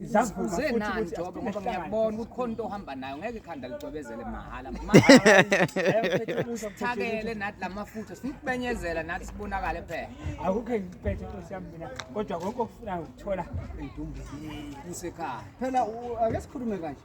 Zivuzeni nani Jobe ngoba ngiyakubona ukuthi khona into ohamba nayo ngeke ikhanda ligcwebezele mahhala. Thakele nathi lamafutha sikubenyezela nathi sibonakale phela. Akukho ngiphethe intosi yami mina kodwa konke okufuna ukuthola indumbili kusekhaya. Phela ake sikhulume kanje.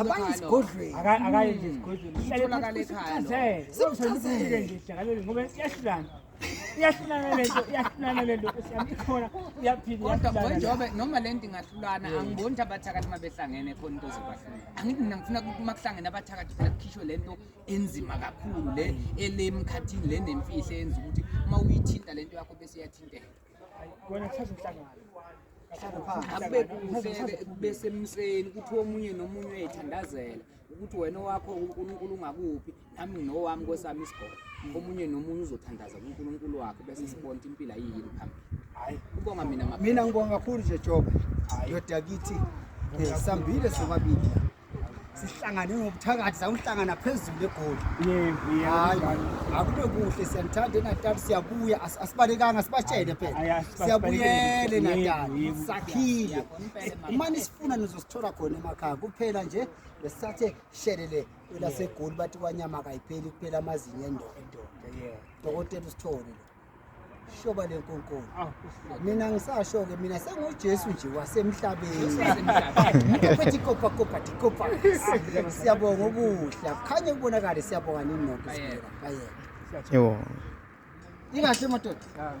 abaye esigodlweni akaye nje esigodlweni itholakale ekhaya simchazele nje sijakalele ngoba iyahlulana iyahlulana lento iyahlulana lento siyami ikhona iyaphila kodwa njengoba noma lento ingahlulana angiboni ukuthi abathakathi uma behlangene khona into zobahlula angithi mina ngifuna ukuthi uma kuhlangene abathakathi phela kukhishwe lento enzima kakhulu le elemkhathini le nemfihlo eyenza ukuthi uma uyithinta lento yakho bese iyathinteka wena kuthatha umhlangano besemseni ukuthi omunye nomunye uyayithandazela ukuthi wena owakho unkulunkulu ungakuphi nami nginowami kwesami isigolo omunye nomunye uzothandaza kunkulunkulu wakhe bese sibona ukuthi impilo ayiyini phambili kubonga mina mina ngibonga kakhulu nje joba ndoda kithi eh, sambile sobabili sihlangane ngobuthakathi sawuhlangana phezulu egoli akube kuhle siyanithanda enatali siyabuya asibalekanga sibatshele phela siyabuyele natali sakhile uma nisifuna nizosithola khona emakhaya kuphela nje besisathe shelele kwelasegoli bathi kwanyama kayipheli kuphela amazinyo endoda dokotela usithole lo shoba lenkonkolo ah, mina ngisasho ke mina sengujesu nje wasemhlabeni phethi kopa kopa tikopa siyabonga okuhle akukhanye kubonakale siyabonga nini nokho sibeka bayeke yebo ingahle madoda